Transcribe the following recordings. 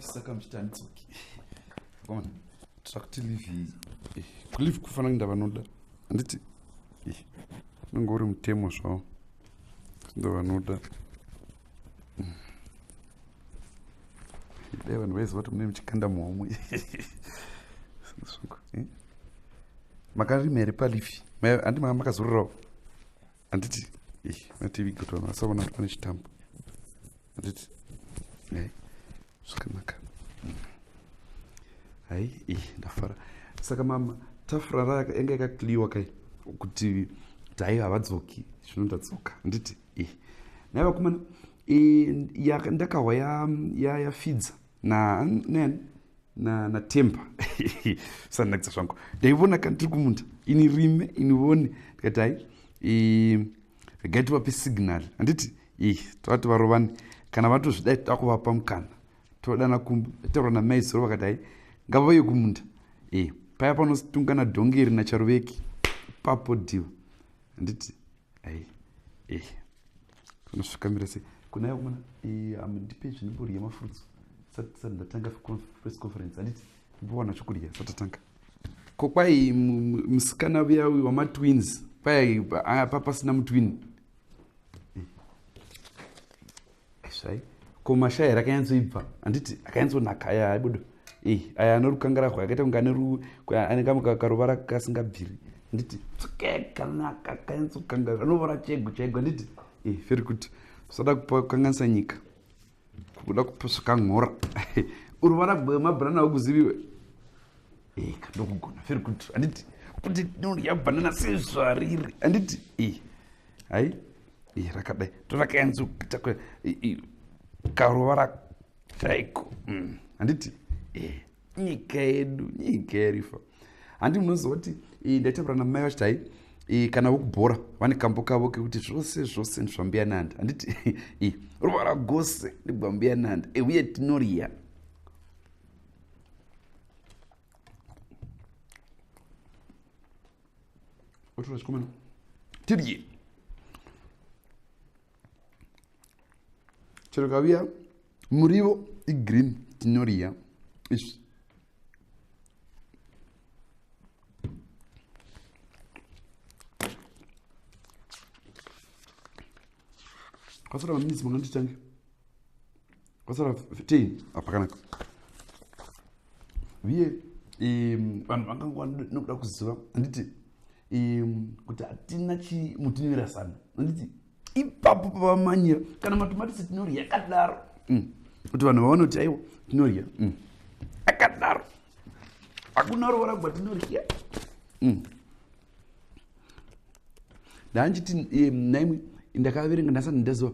saka muchitandidzoki ona trakuti live eh, kulive kufana kuinda vanoda handiti eh, unenge uri mutemo zvavo ndovanoda dai vanhu vaiziva kuti mune muchikanda muhomwe eh? makarima here palifi handi maa makazororawo handiti eh, mativiga kuti vanhu vasaona kuti pane chitambo handiti eh, zvakanaka hai ndafara saka mama tafura rayanga yakakliwa kai kuti dai havadzoki zvino ndadzoka handiti eh, nai vakomana eh, ndakahwa yafidza ya, ya na natemba sanakisa zvangu ndaivona kana tiri kumunda ini rime inivone ndikati hai eh, regai tivape signal handiti eh, tovati varovani kana vatozvidai takuvapa mukana todana kumba taura namai zoro vakati hai ngavauye kumunda e paya panotungana dhongeri nacharuveki papo diva handiti hey, hey. unosvika mira sei kuna iwe mwana amundipe zvinibori yemafruits sati ndatanga press conference handiti mbowana chokudya satatanga ko kwai musikana uya uyu wamatwins kwai apa pasina mutwin Zvai. Ko mashaya rakanyatsoibva. Anditi akanyatsonaka aya aibudo. Eh, aya anorukangara kwa akaita kunga neru ane kamwe kakaruvara kasingabviri. Anditi tsukeka naka kanyatsokangara anovara chego chego anditi. Eh, feri kuti usada kupa kanganisa nyika. Kuda kuposa kangora. Uruvara bwe mabrana hokuziviwe. Eh, kandokugona feri kuti anditi kuti ndodya banana sezvariri anditi. Eh. Hai. rakadai torakayanzi karovara kaiko mm. handiti eh, nyika yedu nyika yerifa handi munozoti ndaitaura namai vachiti hai kana vokubhora vane kambo kavo kekuti zvose zvose ndizvambuya nandi handiti ruvara gose ndibwambuya nandi eh, uye tinoriya otora chikomana tidye chero kaviya murivo igreen tinoriya izvi kwasara maminitsi mangani tichange vasara 15 apakanaka uye vanhu vangangwa nokuda kuziva handiti kuti hatina chimutinivira sano handiti ipapo pavamanyira kana matomatisi tinorya yakadaro mm. kuti vanhu vaone kuti aiwa tinorya mm. akadaro hakuna rovora gwa tinorya mm. ndanjiti eh, naimwe ndakaverenga ndasati ndaziva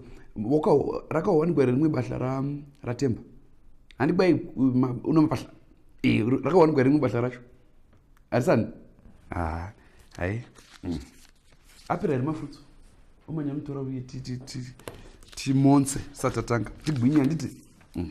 rakawanikwa here rimwe bahla ratemba handibai una mabahla eh, rakawanikwa here rimwe bahla racho harisani ah, hai mm. apera here mafutso omanya mutora uye timonse satatanga tigwinye handiti mm.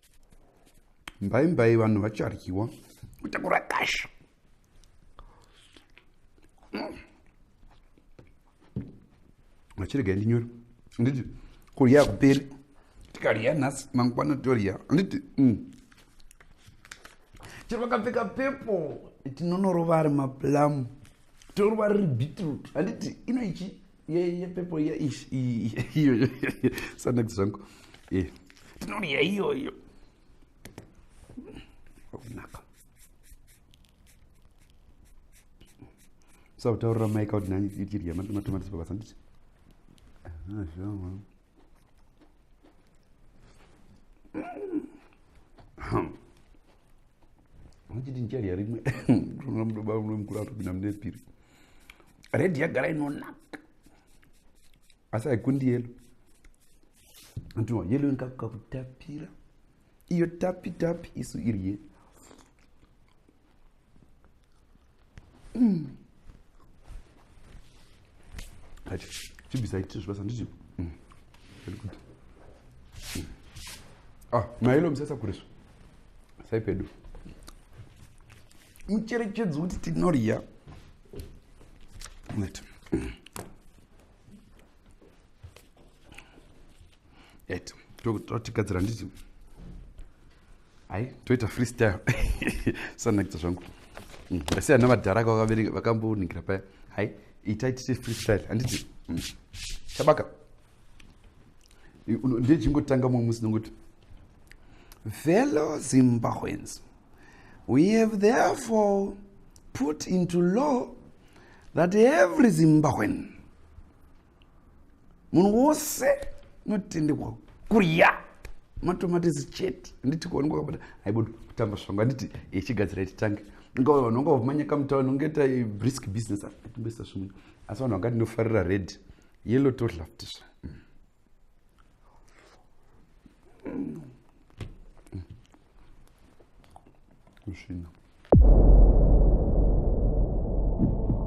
mbai mbai vanhu vacharyiwa kutakura kasha vachirega ndinyore anditi kurya kuperi tikarya nhasi mangwana torya anditi mm. chero vakapfeka pepo tinonorova ari maplamu torova riri beetroot handiti ino ichi yeye pepo iya ish iyoyo sanakti zvangu e tinoriya iyoyo wakunaka sakutaurira maika kuti nani ichirya matomatisi pabasa nditi ah, muchiti ndichadya rimwe ndinoona mudoba mune mukuru atopinda mune piri redhi yagara inonaka asi haikundi yelo ndinoa yelo inkakuka kutapira iyo tapi tapi isu iri yelo Hachi, chibisa ichi zvibasa ndichi. Mm. Very good. Mm. Ah, mailo msesa kuriswa. Sai pedu. Mucherechedzo kuti tinorya. Let. Mm. et totigadzira nditi hai toita freestyle sanakidza zvangu mm, asi ana vadhara ka vakambonigira paya hai itai tite freestyle handiti mm, chabaka ndechingotanga mumwe musi nonguti fellow zimbabweans we have therefore put into law that every zimbabwean munhu wose unotendekwa kurya matomatisi chete handiti kuonekwa kabata aibo kutamba svangu handiti ichigadzira ititange nga vanhu vanga vamanyaka mutauni ungaita brisk business atingoisa zvimwe asi vanhu vanga ndinofarira red yellow todlaftisva kusvina mm. mm. mm.